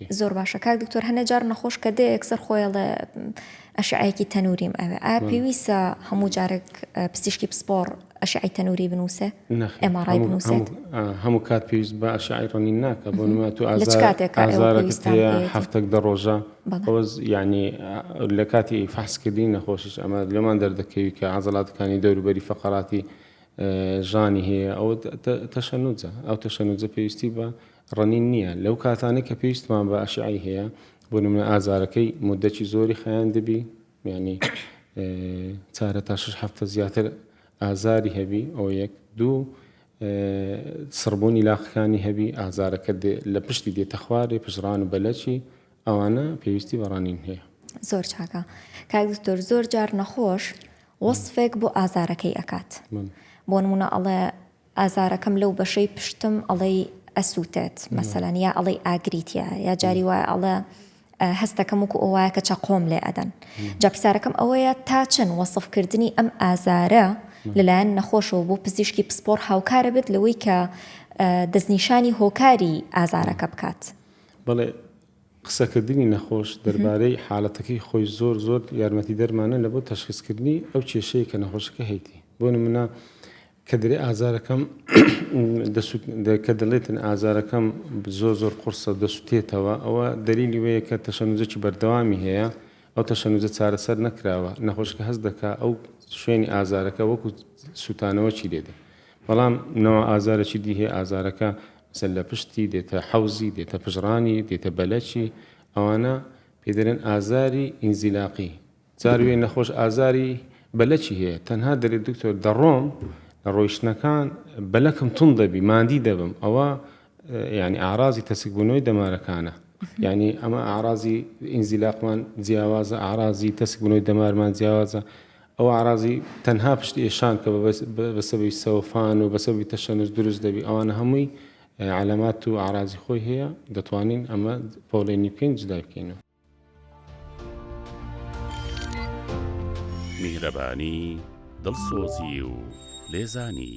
زۆر باشە کاک دکتۆر هەنێ جار نەخۆش کە دێ یەکسەر خۆی ئەڵێ ئەشعەیەکی تەنوریم ئەوێ ئایا پێویستە هەموو جارێک پزیشکی پسپۆڕ ئەشعەی تەنوری بنووسێ ئێماڕای بنووسێت هەموو کات پێویست بە ئەشعی ڕنین ناکە بۆ نما تو هەفتەک دە ڕۆژە بەڵۆز یعنی لە کاتی فحسکردنی نەخۆشیش ئەمە لەمان دەردەکەوی کە عزلاتەکانی دەوروبەری فقراتی ژانی هەیە ئەو تەشەنوجە ئەو تەشەنوجە پێویستی بە ڕنین نییە لەو کاتانەی کە پێویستمان بە ئەشعەی هەیە بۆ نمونە ئازارەکەی موددەکی زۆری خایاندبی یانی چارە تا شش هەفتە زیاتر ئازاری هەبی ئەو یەک دوو سڕبوونی لاقەکانی هەبی ئازارەکە لە پشتی دێتە خوارێ پژڕان و بەلەکی ئەوانە پێویستی بەڕانین هەیە زۆر چاکە کاک دکتۆر زۆر جار نەخۆش وەصفێک بۆ ئازارەکەی ئەکات بۆ نمونە ئەڵێ ئازارەکەم لەو بەشەی پشتم ئەڵێی ئەسووتێت مەسەلەن یا ئەڵێی ئاگری تیایە یا جاری وایە ئەڵێ هەستەکەم وکو ئەو وایە کە چەقۆم لێ ئەدەن جا پرسیارەکەم ئەوەیە تا چەند وەسفکردنی ئەم ئازارە لەلایەن نەخۆشەوە بۆ پزیشکی پسپۆڕ هاوکارە بێت لەوەی کە دەستنیشانی هۆکاری ئازارەکە بکات بەڵێ قسەکردنی نەخۆش دەربارەی حالەتەکەی خۆی زۆر زۆر یارمەتیدەرمانە لە بۆ تەشخیسکردنی ئەو کێشەیە کە نەخۆشەکە هەیتی بۆ نمونە کە دەرێ ئازارەکەم کە دەڵێتن ئازارەکەم زۆر زۆر قرسە دەسوتێتەوە ئەوە دەلیلی وەیە کە تەشەنوزەکی بەردەوامی هەیە ئەو تەشەنوزە چارەسەر نەکراوە نەخۆشکە هەست دەکا ئەو شوێنی ئازارەکە وەکو سووتانەوەکی لێدە بەڵام نەوە ئازارەی دی هەیە ئازارەکە سەرلەپشتی، دێتە حەوزی، دێتە پژڕانی، دێتە بەلەکی، ئەوانە پێی دەلێن ئازاری ئینزیلاقی، جار وێ نەخۆش ئازاری بەلەکی هەیە تەنها دەلێت دکتۆر دەڕۆم لە ڕۆیشتنەکان بەلەکم توند دەبی ماندی دەبم ئەوە یعنی ئارازی تەسکبوونەوەی دەمارەکانە یعنی ئەمە ئارازی ئینزیلاقمان جیاوازە ئارازی تەسکبوونەوەی دەمارمان جیاوازە ئەو ئەعراضی تەنها پشت ئێشان کە بەسەبەبی سەوفان و بەسەبەبی تەشەنوج دروست دەبی ئەوانە هەمووی عەلامات و ئەعراضی خۆی هەیە دەتوانین ئەمە پۆلێنی بکەین جدای بکەینەوە. میهرەبانی، دڵسۆزی و لێزانی.